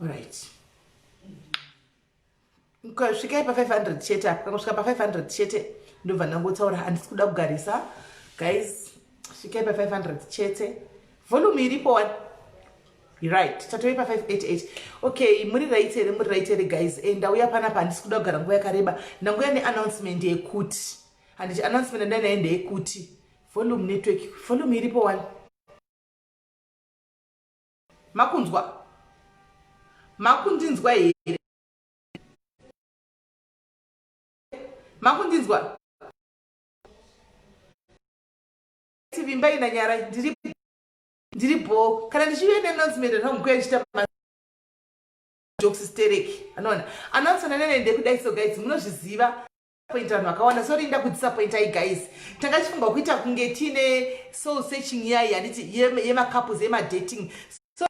Alright. Ukasvika pa 500 chete apa kangosvika pa 500 chete ndobva ndangotsaura handisi kuda kugarisa guys svika pa 500 chete volume iripo wani right tatove pa 588 okay muri right here muri right here guys e ndauya panapa handisi kuda kugara nguva yakareba ndanguya neannouncement yekuti handiti announcement andai naye ndeyekuti volume network volume iripo wani makunzwa makundinzwa here makundinzwa tivimba ina nyara ndiri ndiri bho kana ndichive neannouncement anonguya ndichita jokes stereki anoona announcement anene ndekudaisogaizi munozviziva point vanhu vakawanda sorry nda kudisappointai guys tanga chifunga kuita kunge tiine soul searching yai handiti yemacouples yemadating so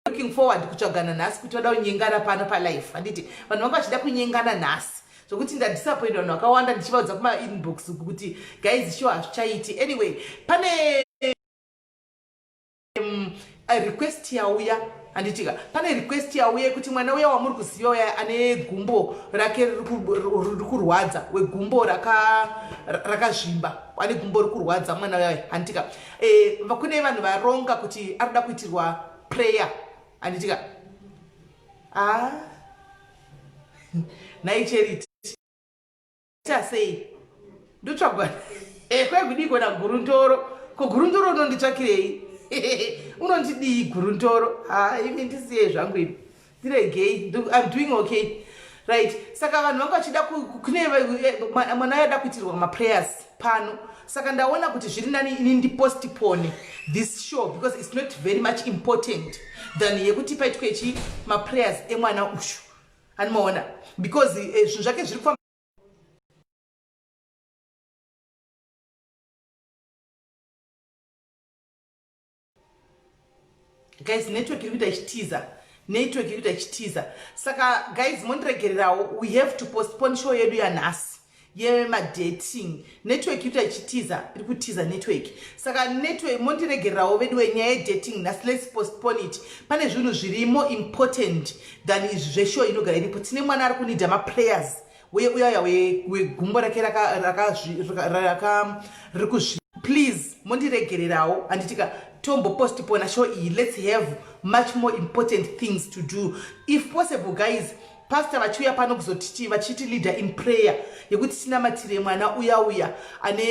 looking forward kutsvagana nhasi kuti vada kunyengana pano palife handiti vanhu vanga vachida kunyengana nhasi zvokuti ndadisappoint vanhu vakawanda ndichivaudza kumainbox kuti guys sho hazvichaiti anyway pane um, request yauya handitika pane request yauya yekuti mwana uya wamuri kuziva uya ane gumbo rake riri kurwadza wegumbo rakazvimba raka ane gumbo riri kurwadza mwana uya handitika e, eh, kune vanhu varonga kuti anoda kuitirwa prayer handitika ah. naicheriti Ita sei? Ndotsvagwa eh, kwekudii kona gurundoro? Ko gurundoro unonditsvakirei? Unondidii gurundoro? Ha, imi ndisiye zvangu imi. Ndiregei. I'm doing okay. Right. Saka vanhu vanga vachida kune eh, mwana yada kuitirwa ma prayers pano. Saka ndaona kuti zviri nani ini ndi postpone this show because it's not very much important than yekuti paitwe chi ma prayers emwana ushu. Animoona because eh, zvinhu eh, zvake zviri kufamba guys network iri kuita ichitiza network iri kuita ichitiza saka guys mondiregererawo we have to postpone show yedu yanhasi yemadating network yuta ichitiza iri kutiza network saka network mondiregererawo vedu wenyaya yedating nhasi lets postpone it pane zvinhu zviri more important than izvi zveshow inogara iripo tine mwana ari kunida maprayers uye uyaya wegumbo rake riri kuzvi please mondiregererawo anditika tombo postpona show iyi lets have much more important things to do if possible guys Pastor vachiuya pano kuzotitii vachiti leader in prayer yekuti tinamatire mwana uya uya ane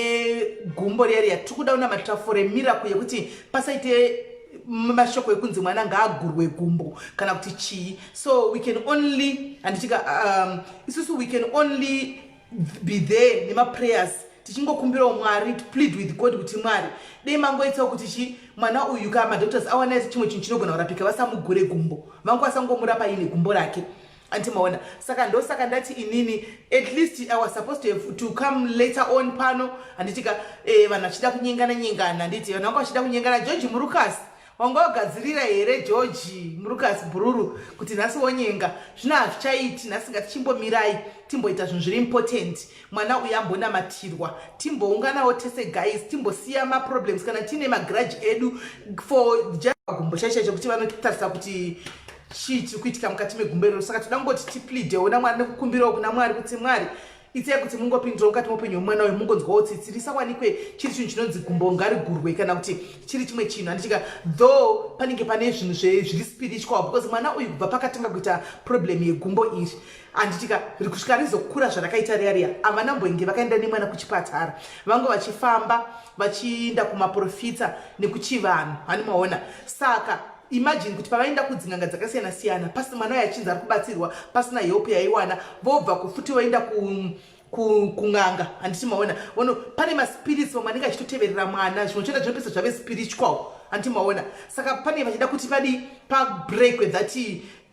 gumbo riya riya tiri kuda unamatira for a miracle yekuti pasaite mashoko ekunzi mwana ngaagurwe gumbo kana kuti chii so we can only handitika um, isusu we can only be there nemaprayers tichingokumbirawo mwari to plead with god kuti mwari dei mangoitsawo kuti chi mwana uyu ka madoctors awana chimwe chinhu chinogona kurapika vasamugure gumbo vangu vasangomurapa ine gumbo rake anti maona saka ndosaka ndati inini at least i was supposed to, have, to come later on pano handitika eh, vanhu vachida kunyengana nyengana handiti vanhu vanga vachida kunyengana george murukasi wanga wagadzirira here georgi murukas bhururu kuti nhasi wonyenga zvino hazvichaiti nhasi ngatichimbomirai timboita zvinhu zviri important mwana uyu ambonamatirwa timbounganawo tese guys timbosiya maproblems kana tiine magrudge edu for just gumbo chaisha chekuti vanotarisa kuti chii chiri kuitika mukati megumbo iroro saka toda kungoti tipleadewo namwari nekukumbirawo kuna mwari kuti mwari itsai kuti mungopindira mukati moupenyu hwemwana uyo mungonzwawo tsitsi risawanikwe chiri chinhu chinonzi gumbo ngarigurwe kana kuti chiri chimwe chinhu handichika though panenge pane zvinhu zviri spiritual because mwana uyu kubva pakatanga kuita problem yegumbo iri handitika kusvika rizokura zvarakaita riya riya havana mboinge vakaenda nemwana kuchipatara vange vachifamba vachiinda kumaprofita nekuchivanhu hanimaona saka Imagine kuti pavaenda kudzin'anga dzakasiyana siyana pasi mwana uyo achinzi ari kubatsirwa pasina help yaiwana vobva kufuti voenda ku kun'anga handiti maona ono pane maspirits vamwe anenge achitoteverera mwana zvimwe choenda zvinopesa zvave spiritual handiti maona saka pane vachida kuti vadii pabreakwe that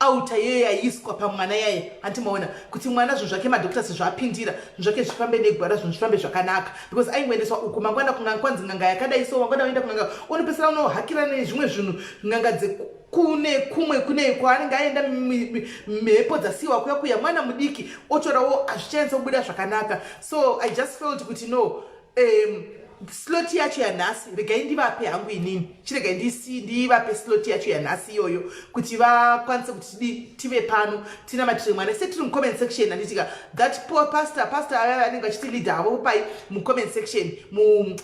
auta yeye yaiiswa pamwana yaye hanti maona kuti mwana zvinhu zvake madoctors zvaapindira zvinhu zvake zvifambe negwara zvinhu zvifambe zvakanaka because aingoendeswa uku mangwana kun'anga kwanzi n'anga yakadai so wangwana waenda kun'anga unopesera unohakira nezvimwe zvinhu n'anga dzekune kumwe kune kwaanenge aenda mhepo dzasiiwa kuya kuya mwana mudiki otorawo hazvichaensa kubuda zvakanaka so i just felt kuti no um, slot yacho yanhasi regai ndivape hangu inini chiregai ndisi ndivape slot yacho yanhasi iyoyo kuti vakwanise kuti tidi tive pano tinamatire mwana se tiri mucomment section anditika that poor pastor pastor ava vanenge vachiti leader havo pai mucomment section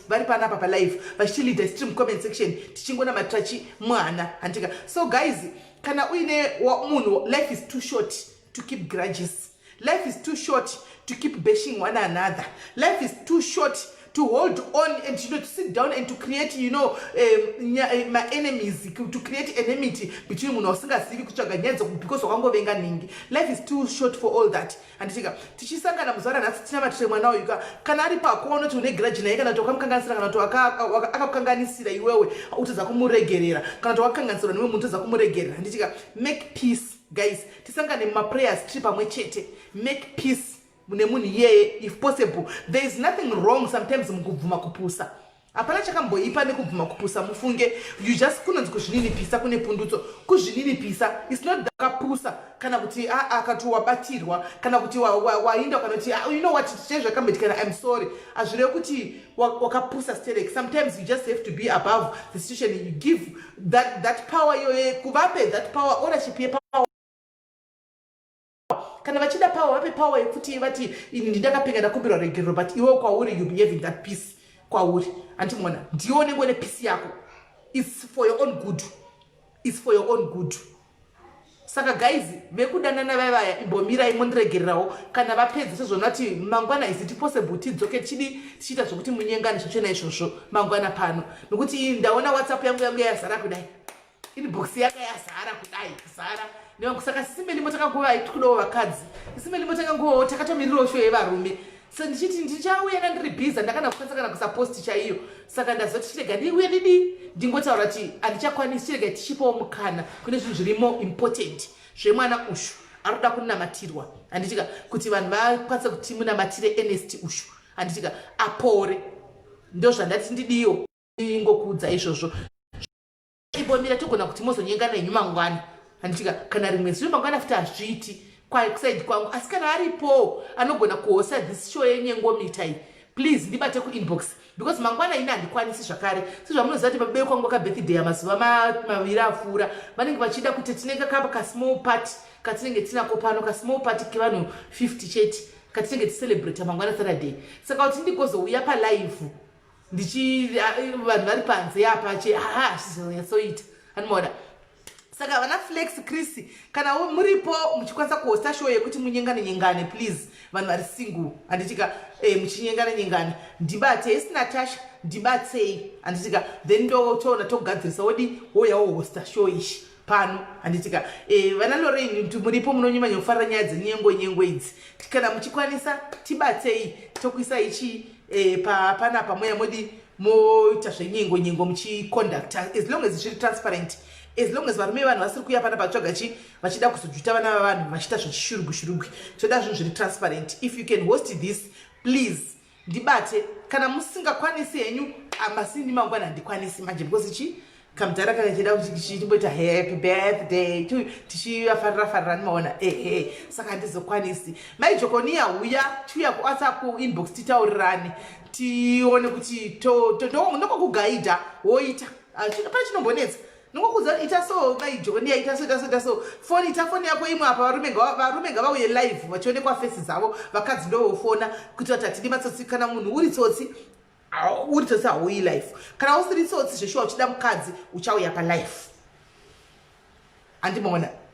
vari pana apa palive vachiti leader sitiri mucomment section tichingonamatira chi mwana anditika so guys kana uine munhu life is too short to keep grudges life is too short to keep bashing one another life is too short to hold on and you know to sit down and to create you know um, eh, my enemies to create enmity between munhu wasingazivi kutsvaga nyaya dzoku because wakangovenga nhingi life is too short for all that handitika tichisangana muzuva ranhasi tina matire mwana uyu ka kana ari pako unoti une grudge naye kana kuti wakamukanganisira kana kuti akakukanganisira iwewe utadza kumuregerera kana kuti wakakanganisirwa newe munhu utadza kumuregerera handitika make peace guys tisangane mumaprayers tiri pamwe chete make peace nemunhu iyeye if possible there is nothing wrong sometimes mukubvuma kupusa hapana chakamboipa nekubvuma kupusa mufunge you just kunonzi kuzvininipisa kune pundutso kuzvininipisa is not akapusa kana kuti aa ah, ah, kati wabatirwa kana kuti wainda kana kuti ah, you know what chee zvakamboitikana im sorry hazvireve kuti wakapusa sterek sometimes you just have to be above the situation you give that, that power iyoye kuvape that power ownership yepower kana vachida power vape power yekuti vati ini ndindakapinga ndakumbirwa regerero but iwe kwauri you behave in that peace kwauri andimona ndione ngone peace yako its for your own good its for your own good saka guys vekudanana vaivaya imbomirai mondiregererawo kana vapedzi sezvona kuti mangwana is it possible tidzoke tichidi tichiita zvekuti munyengani zvochena izvozvo mangwana pano nokuti iyi ndaona whatsapp yangu yangu yazara kudai inbox yaka yazara kudai kuzara nevangu saka sisimeni motakanguvai tikudawo vakadzi sisimeni motakanguvawo takatomirirawo sho yevarume so ndichiti ndichauya na ndiri bhiza ndakana kukwanisa kana kusaposti chaiyo saka ndazoti chirega ndiuye ndidii ndingotaura kuti handichakwanisi chirega tichipawo mukana kune zvinhu zviri more important zvemwana ushu anoda kunamatirwa handitika kuti vanhu vakwanisa kuti munamatire enest ushu handitika apore ndozvandati ndidiwo ingokuudza izvozvo imbomira togona kuti mozonyenga nenyu mangwana handitika kana rimwe zuva mangwana futi hazviiti kwakusaidi kwangu asi kana aripowo anogona kuhosa this show yenyengomita iyi please ndibate kuinbox because mangwana ini handikwanisi zvakare sezvamunoziva kuti pabebe kwangu kabirthday amazuva maviri apfuura vanenge vachida kuti tinenge kapa kasmall part katinenge tinako pano kasmall part kevanhu 50 chete katinenge ticelebrate mangwana saturday saka kuti ndigozouya palive ndichi vanhu vari panze apa che haa hazvizonyatsoita animoda saka vana flex chris kana muripo muchikwanisa kuhosta show yekuti munyengane nyengane please vanhu vari single handitika eh, muchinyengane nyengane ndibate isi natasha ndibatsei handitika then ndotoona togadzirisa wodi woya wohosta show ishi pano handitika eh, vana e, lorein kuti muripo munonyumanya kufarira nyaya dzenyengo nyengo idzi kana muchikwanisa tibatsei tokuisa ichi e, eh, pana pamweya modi moita zvenyengo nyengo muchiconducta as long as zviri transparent as long as varume vanhu vasiri kuya pana patsvaga chi vachida kuzojuta vana vavanhu vachiita zvechishurugwi shurugwi toda zvinhu zviri transparent if you can host this please ndibate kana musingakwanisi henyu amasini mangwana handikwanisi manje because chi kamudhara kana chida kuchitimboita happy birthday to tichiafarira farira nimaona ehe saka handizokwanisi mai jokoniya huya tiuya kuwhatsapp kuinbox titaurirani tione kuti ndokokugaidha woita ah, pane chinombonetsa ndingokuudza ita so mai jonia ita so ita so ita so foni ita foni yako imwe apa varume varume ngavauye live vachionekwa fesi dzavo vakadzi ndovofona kuitira kuti hatidi matsotsi kana munhu uri tsotsi uri tsotsi hauyi life kana usiri tsotsi zveshuwa uchida mukadzi uchauya palife handimaona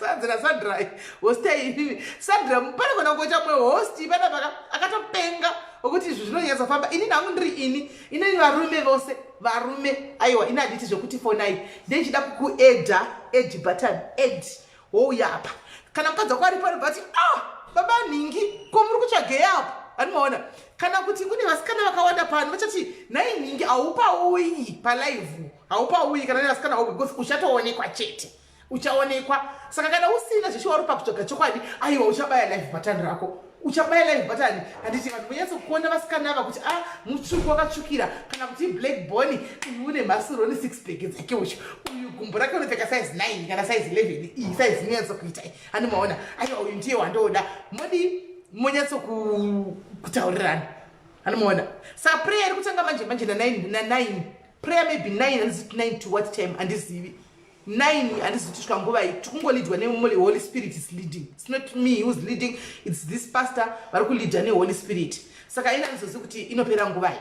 sanzira sandra host aivivi sandra pane kona kuita mumwe host panapaka akatopenga okuti izvi zvinonyatsa famba ini nangu ndiri ini inini varume vose varume aiwa ini handiti zvekuti fonai ndechida kukuedha edi button ed wouya apa kana mukadzi wako ari pano bati ah baba nhingi ko muri kutsvagei apo vanomaona kana kuti kune vasikana vakawanda pano vachati nhai nhingi haupaoyi palive haupauyi kana nevasikana vako because uchatoonekwa chete uchaonekwa saka kana usina zveshuwa uri pakutsvaga chokwadi aiwa uchabaya live bhatani rako uchabaya live bhatani handiti vanhu vonyatsokuona vasikana ava kuti a ah, mutsvuku wakatsvukira kana kuti black bony uyu une mhasuroni six bag dzake ucho uyu gumbo rake unopfeka size nine kana size eleven iyi size inonyatsokuita handi maona aiwa uyu ndiye wandooda modi monyatsokutaurirana handi maona saprayer kutanga manje manje nanine prayer maybe 9 handiziti 9 to what time handizivi 9 handiziti kusvika nguvai tikungolidwa nemuli holy spirit is leading its not me whois leading its this pastor vari kulidha neholy spirit saka ina ndizozi kuti inopera nguvai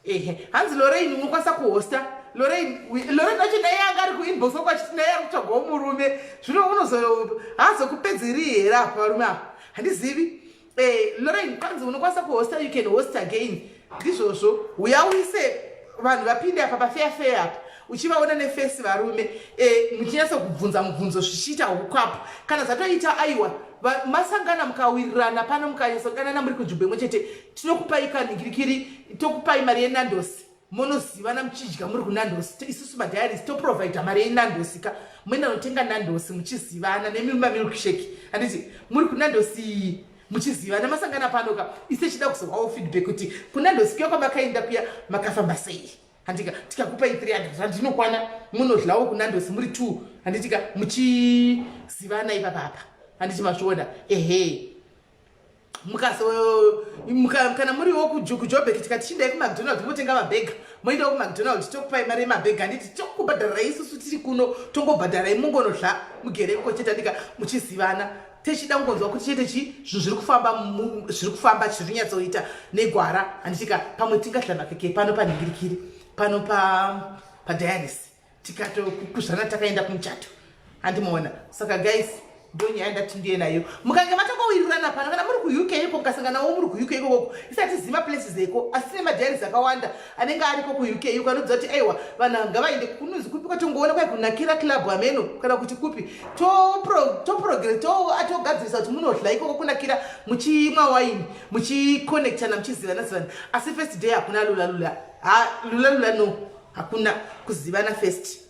ehe hanzi lorein unokwanisa kuhosta lorein lorein acho naye anga ari kuinbox wako achiti naye ari kutsvagawo murume zvino unozo haazokupedzeri here apa varume apa handizivi Eh, Lorraine kwanzi unokwanisa kuhosta you can host again ndizvozvo uya uise vanhu vapinde apa pafeya feya apa uchivaona nefesi varume eh, muchinyatsa kubvunza mubvunzo zvichiita hukwapo kana zvatoita aiwa masangana mukawirirana pano mukanyasokanana muri kunzvimbo imwe chete tinokupai kanhingirikiri tokupai mari yenandosi monozivana muchidya muri kunandosi isusu madiaries toprovider mari yenandosi ka muenda notenga nandosi muchizivana nemimba milkshake handiti muri kunandosi iyi muchizivana masangana pano ka ise chida kuzohwawo feedback kuti kunandosi kuya kwamakaenda kuya makafamba sei handika tikakupai 300 rand inokwana munodlawo kunandosi muri two handitika muchizivana ipapapa handiti mazviona ehe kana muriwo kujobheki tikati chindai kumacdonald motenga mabhega moendawo kumacdonald tokupai mari yemabhega handiti tokubhadharai isusu tiri kuno tongobhadharai mungonozva mugere kukochetanika muchizivana techida kungonzwa kuti chete chi zvinhu zviri kufamba zviri kufamba chiri kunyatsoita negwara handitika pamwe tingadlanakeke pano panhingirikiri pano padianis tikatokukuzvana takaenda kumuchato andimoona saka guys ndonyaya ndati ndiye nayo mukange matokowirirana pano kana muri kuuk iko mukasanganawo muri kuuk iko koko isati zima places eko asi ne madiaries akawanda anenge ariko kuuk iko anodzidza kuti aiwa vanhu ava ngavaende kunozi kupi kwatongoona kwai kunakira club ameno kana kuti kupi toprogre togadzirisa kuti munodla ikoko kunakira muchimwa waini muchiconnectana muchizivana zivana asi first day hakuna lulalula ha lulalula no hakuna kuzivana first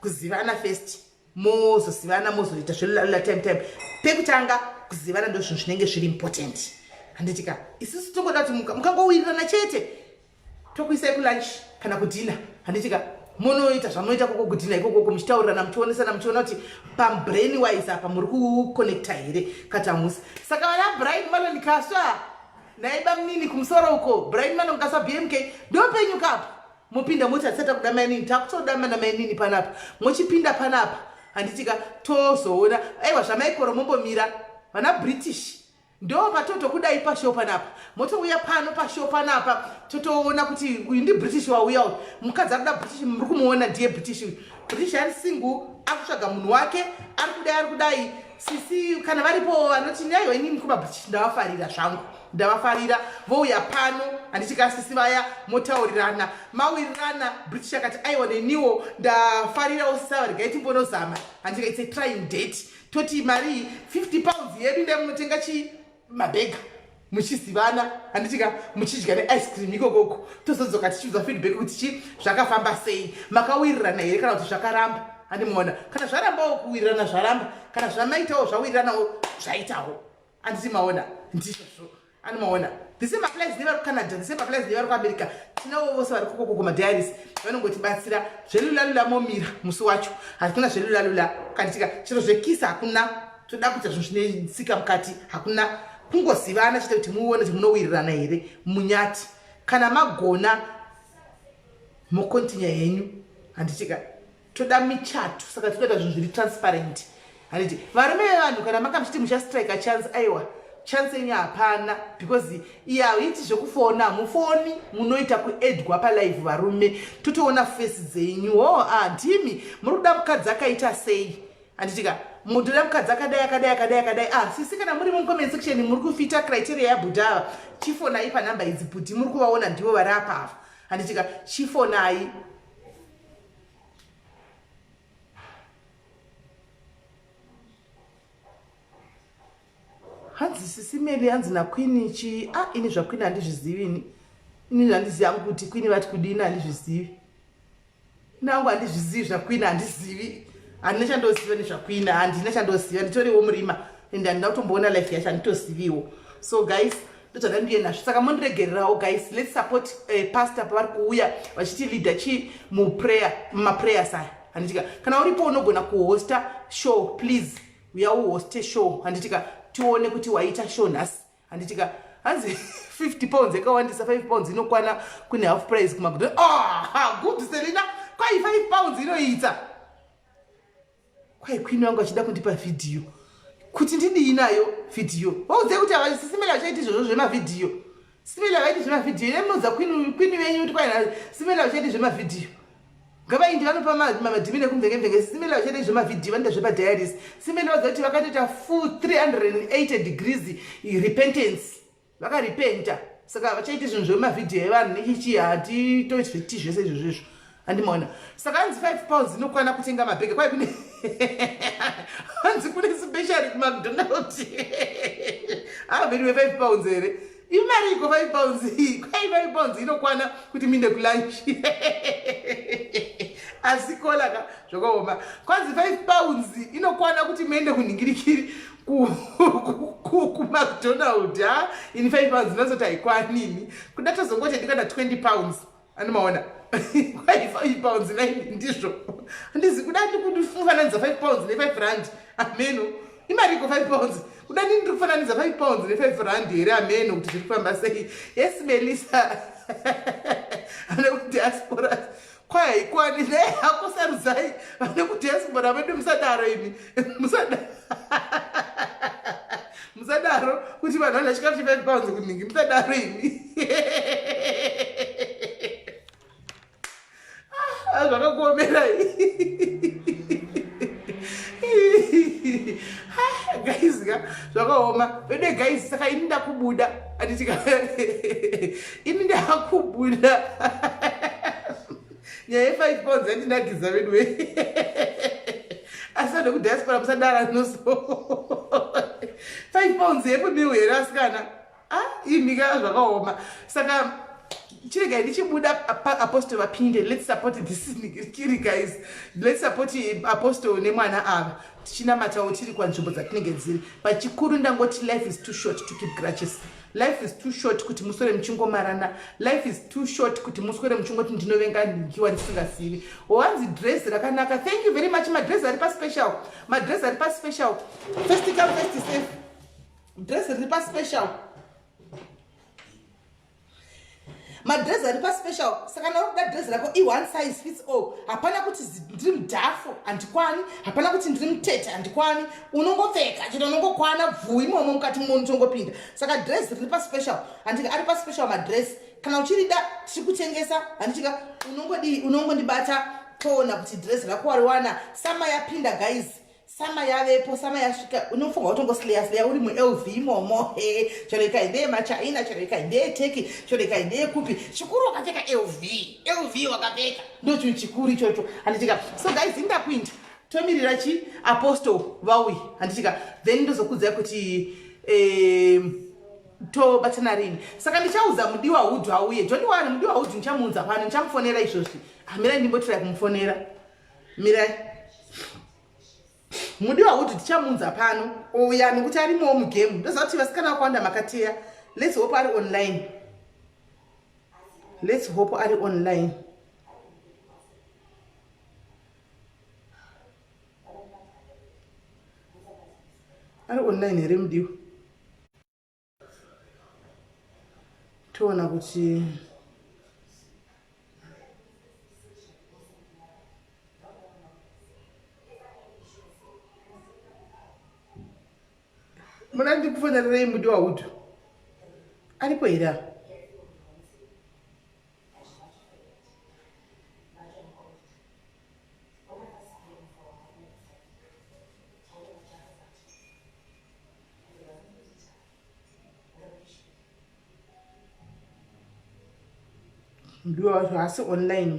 kuzivana first mozozivana mozoita zvelalula time time pekutanga kuzivana ndo zvinhu zvinenge zviri important handitika isusu tongoda kuti mukangowirirana chete tokuisai kulunch kana kudhina handitika munoita zvamunoita koko kudhina ikokoko muchitaurirana muchionesana muchiona kuti pambrain wise apa muri kuconnecta here katamusi saka vana brain vanondikaswa Nhai bamnini kumusoro uko Brian Manongasa BMK ndopenyu kapo mopinda moti hatisati takuda mainini takutoda mana mainini panapa mochipinda panapa handitika tozoona aiwa zvamaikoro mombomira vana british ndo patotokudai pashow panapa motouya pano pashow panapa totoona kuti uyu ndi british wauya uyu mukadzi akuda british muri kumuona ndiye british uyu british ari single akutsvaga munhu wake ari kudai ari kudai sisi kana varipo vanoti nyaiwa inini kumabhitichi ndavafarira zvangu ndavafarira vouya pano handiti ka sisi vaya motaurirana mawirirana british akati aiwa neniwo ndafarirawo sisavarega itimbonozama handika its a trying date toti mari 50 pounds yedu ndaimunotenga chii mabhega muchizivana handitika muchidya neice cream ikokoko tozodzoka tichiudzwa feedback kuti chi zvakafamba sei makawirirana here kana kuti zvakaramba handimuona kana zvarambawo kuwirirana zvaramba kana zvamaitawo zvawiriranawo zvaitawo anditi maona ndizvozvo andimaona the same applies nevari kucanada the same applies nevari kuamerica tinavo vose vari kokoko kumadiaris vanongotibatsira zvelulalula momira musi wacho hatikuna zvelulalula kanditika chero zvekisa hakuna toda kuita zvinhu zvine tsika mukati hakuna kungozivana chete kuti muone kuti munowirirana here munyati kana magona mokontinya henyu handitika toda michato saka tinoita zvinhu zviri transparent handiti varume vevanhu kana makamuchiti muchastrike chance aiwa chance yenyu hapana because iye hauiti zvekufona hamufoni munoita kuedwa palive varume totoona fesi dzenyu hoo oh, ah, ndimi muri kuda mukadzi akaita sei handitika munhu toda mukadzi akadai akadai akadai akadai ah sisi kana muri mucomment section muri kufita criteria yabuda ava chifonai panhamba idzi bhuti muri kuvaona ndivo vari apa ava handitika chifonai hanzi sisi meli hanzi nakwini chii a ah, ini zvakwini handizvizivi ini ini zvandizivi yangu kuti kwini vati kudini handizvizivi nangu handizvizivi zvakwini handizivi handina chandoziva nezvakwini handina chandoziva nditoriwo murima and handina kutomboona life yacho handitoziviwo so guys ndozvada ndiye nazvo saka mondiregererawo guys lets support uh, pastor pavari kuuya vachiti leader chii muprayer mumaprayers aya handitika kana uripo unogona kuhosta show please uya uhoste show handitika tione kuti waita show nhasi handitika hanzi 50 pounds yakawandisa 5 pounds inokwana kune half price kumagudo ah, good selina kwai 5 pounds inoita kwai kwini wangu achida kundipa vhidhiyo kuti ndidii nayo vhidhiyo waudzai kuti havasisi mene vachaiti izvozvo zvemavhidhiyo Simela vaiti zvemavhidhiyo ine munoudza kwini venyu kuti kwaina simela vachaiti zvemavhidhiyo ngavaindi vanopa madhimini ekumvengevenge simela vachaita zvemavhidhiyo vanoita zvepadiaris simela vadza kuti vakatoita full 380 degrees repentance vakarepenta saka vachaiti zvinhu zvemavhidhiyo evanhu nechichi hatitoiti zvese izvozvo izvo handi maona saka anzi 5 pounds inokwana kutenga mabhege kwaye kune hanzi kune special kumacdonald averiwe 5 pounds here imari iko 5 pounds iyi kwai 5 pounds inokwana kuti minde kulunch asi kolaka zvakaoma kwanzi 5 pounds inokwana kuti muende kunhingirikiri kumacdonald ha ini 5 pounds inozoti haikwanini kuda tozongoti ndikana 20 pounds Ani maona. Kwai 5 pounds nai ndizvo. Andizi kuda ndi kundifananidza 5 pounds ne 5 rand. Ameno. Imari ko 5 pounds. Kuda ndi ndiri kufananidza 5 pounds ne 5 rand here ameno kuti zviri kufamba sei. Yes Melissa. Ana ku diaspora. Kwai kwani ne hakusarudzai. Ana ku diaspora vedu musadaro imi. musadaro musadaro kuti vanhu vana chikafu chefive pounds kunhingi musadaro imi ah, zvakakuomerai guys ka zvakaoma vede guys saka ini ndakubuda anditika ini ndakubuda nyaya yefive pounds yandinakidza veduwe asi vanhu vekudiaspora musadara noso five pounds yepo miu here asikana ah, imika zvakaoma saka chiregai ndichibuda apostle vapinde lets support this kiri guys lets support apostle nemwana ava tichinamatawo tiri kwanzvimbo dzatinenge dziri but chikuru ndangoti life is too short to keep grutches life is too short kuti muswere muchingomarana life is too short kuti muswere muchingoti ndinovenga nhingiwa ndisingasivi wanzi dress rakanaka thank you very much madress ari paspecial madress ari paspecial first come first safe dress riri paspecial madress ari paspecial saka nauri kuda dress rako i one size fits all hapana kuti ndiri mudhafo handikwani hapana kuti ndiri mutete handikwani unongopfeka chete unongokwana bvuu imomo mukati muno unotongopinda saka dress riri paspecial handika ari paspecial madress kana uchirida tiri kutengesa handichika unongodii unongondibata toona kuti dress rako wariwana sama yapinda guys sama yavepo sama yasvika unofunga utongo sleya sleya uri mulv imomo he chero ikai ndeye machina chero ikai ndeye teki chero ikai ndeye kupi chikuru wakapfeka lv lv wakapfeka ndo chinhu chikuru ichocho handitika so guys indakuinda tomirira chi apostle vauyi handitika then ndozokudzai kuti eh, tobatana rini saka ndichaudza mudiwa hudhu auye joniwari mudiwa hudhu ndichamuudza pano ndichamufonera izvozvi hamirai ndimbotirai kumufonera mirai mudiwa kuti tichamunza pano ouya nekuti arimowo mugame ndoziva kuti vasikana vakawanda makateya lets hope ari online lets hope ari online ari online here mudiwa toona kuti muna ndikufonererei mudi waudu aripo here apa ndiwe wacho hasi online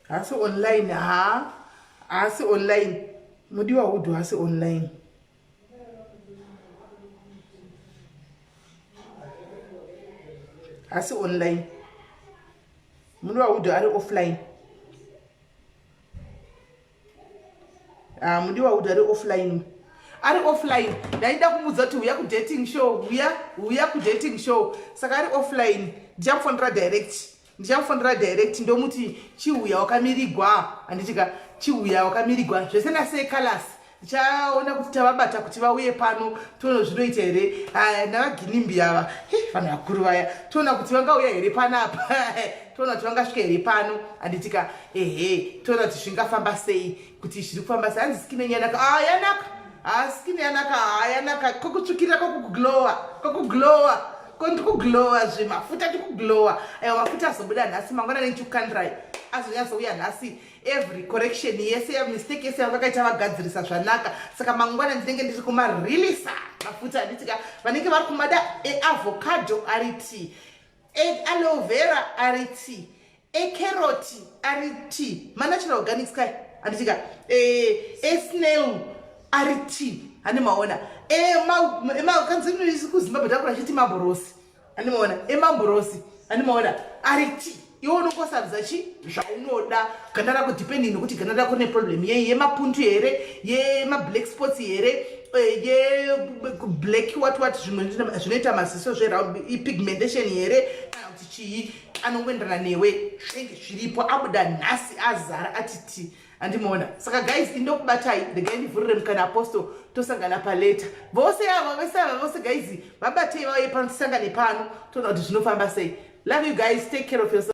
hasi online ha hasi online mudiwa hudhu hasi online hasi online mudiwa hudhu ari offline Ah, mudiwa kuti ari offline ari offline ndaida kumudza kuti huya kudating show huya huya kudating show saka ari offline ndichamufonera direct ndichamufonera direct ndomuti chihuya wakamirigwa handitika chihuya wakamirigwa zvese nase calas ndichaona kuti tavabata kuti vauye pano toona zvinoita here ah, navaginimbi ava vanhu vakuru vaya toona kuti vangauya here panapa toona kuti vangasvika here pano anditika ehe toona kuti zvingafamba sei kuti zviri kufamba sei hanzi skin yenyu yanaka a ah, yanaka a ah, skin yanaka a ah, yanaka kokutsvukirira kokuglowa kokuglowa kondikuglowa zve mafuta tikuglowa aiwa mafuta azobuda nhasi mangwana nechikukandirai azonyatsouya nhasi every correction yese yamistake yese yavakaita vagadzirisa zvanaka saka mangwana ndinenge ndiri kumarelisa mafuta anditika vanenge vari kumada eavocado ari tii Egg aloe vera ari tea. E carrot ari tea. Ma natural organics kai. Anditika. E, e snail ari tea. Ane maona. E ma, e ma, kanzi inoisi kuZimbabwe takura chiti maborosi. Ane maona. E maborosi. Ane maona. Ari tea. Iwo unokosabza chi zvaunoda. ganda rako depending nokuti ganda rako neproblem yei yemapundu here yemablack sports here eh, yeblack wat wat zvimwe zvinoita maziso zveround ipigmentation here kana kuti chii anongoenderana newe zvinenge zviripo abuda nhasi azara atiti andimoona saka guys indokubatai regai ndivhurire mukana apostle tosangana paleta vose ava vese ava vose guys vabatei vauye pano tisangane pano toona kuti zvinofamba sei love you guys take care of yourself